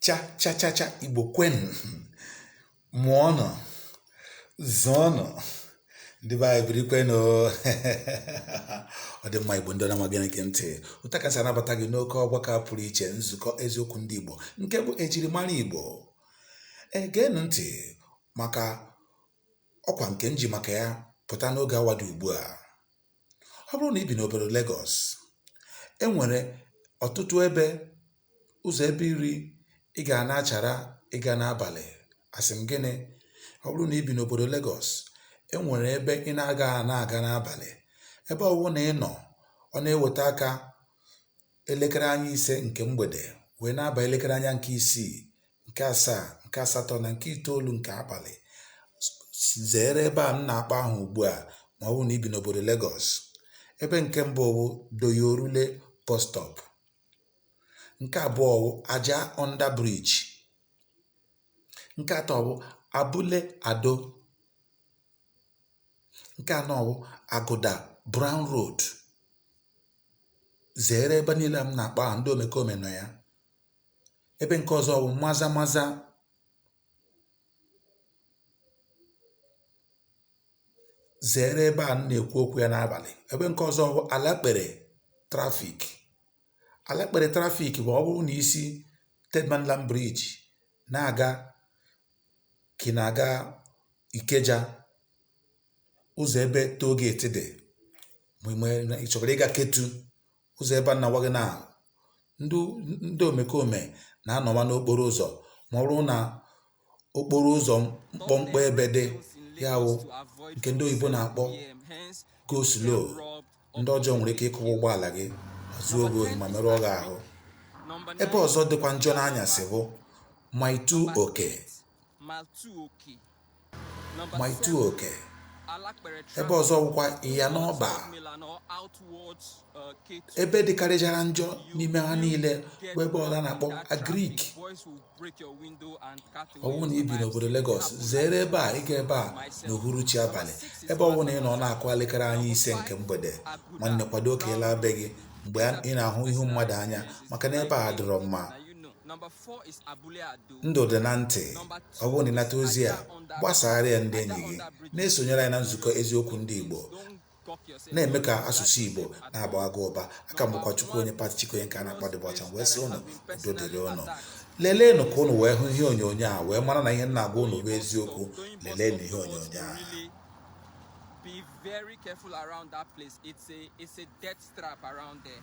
Cha cha cha cha Igbo kwenu mụọnụ zụọnụ ndị be anyị biri kwenu ọ dị mma Igbo ndị ọma gịnị gị ntị ụta kasị anabata gị n'oke ọgbakọ a pụrụ iche nzukọ eziokwu ndị Igbo nke bụ ejirimara Igbo geenụ ntị maka ọkwa nke m ji maka ya pụta n'oge awa dị ugbu a Ọ bụrụ na i bi n'obodo Legọs, e nwere ọtụtụ ebe ụzọ ebe iri ị ga na-achara ịga n'abalị. Asị m gịnị? Ọ bụrụ na i bi n'obodo Legọs, e nwere ebe ị na-agaghị ana-aga n'abalị. Ebe ọ wụna ị nọ, ọ na-eweta aka elekere anya ise nke mgbede wee na-aba elekere anya nke isii nke asaa nke asatọ na nke itoolu nke abalị zere ebe a m na-akpọ aha ugbu a ma ọ bụrụ na i bi n'obodo Lagos ebe nke mbụ bụ Doyin Orile bus stop nke abụọ bụ Ajah under bridge nke atọ bụ Abule Ado Nke anọ wụ Aguda Brown Road. Zeere ebe niile a m na-akpọ aha ndị omekome nọ ya. Ebe nke ọzọ wụ Maza Maza zeere ebe a m na-ekwu okwu ya n'abalị. Ebe nke ọzọ wụ Alapere traffic. Alapere traffic bụ ọ bụrụ na i si Third Mainland Bridge na-aga kà ị nà-àga Ikeja, ụzọ̀ ebe toll gate dị̀, mà ị chọ̀kwàrà ịgā Ketu, ụzọ̀ ebe a nà-àgwa gị nà ndị ndị òmèkòmè nà-anọ̀wa n'okporo ụzọ̀ mà ọ bụrụ nà okporo ụzọ̀ mkpọmkpọ ebe dị, ya wụ ǹkè ndị oyìbo nà-àkpọ go slow. Ndị ọjọọ nwere ike ịkụwa ụgbọala gị zuo gị ohi ma merụọ gị ahụ. Ebe ọzọ dịkwa njọ n'anyasị bụ Mile Two Oke Mile Two Oke ebe ọzọ bụkwa Iyana Oba ebe dịkarịchara njọ n'ime ha niile bụ ebe ọla na-akpọ Agric ọ bụrụ na i bi n'obodo Lagos zere ebe a ịga ebe a n'uhuruchi abalị ebe ọ bụla ị nọ ọ na-akụ elekere anya ise nke mgbede nwanne kwado ka ị laa be gị mgbe ị na-ahụ ihu mmadụ anya maka na ebe a adịrọ mma ndụ dị na ntị ọ bụrụ na ị nata ozi a gbasaara ya ndị enyi gị na-esonyere anyị na nzukọ eziokwu ndị Igbo na-eme ka asụsụ Igbo na-agba agụ ụba aka m bụkwa Chukwuonye Pati Chikoye nke a na-akpọ Dibịa Ọcha wee sị ụnụ udo dịrị ụnụ leleenụ ka ụnụ wee hụ ihe onyonyo a wee mara na ihe m na-agwa ụnụ bụ eziokwu leleenụ ihe onyonyo a be very careful around that place. It's a it's a death trap around there.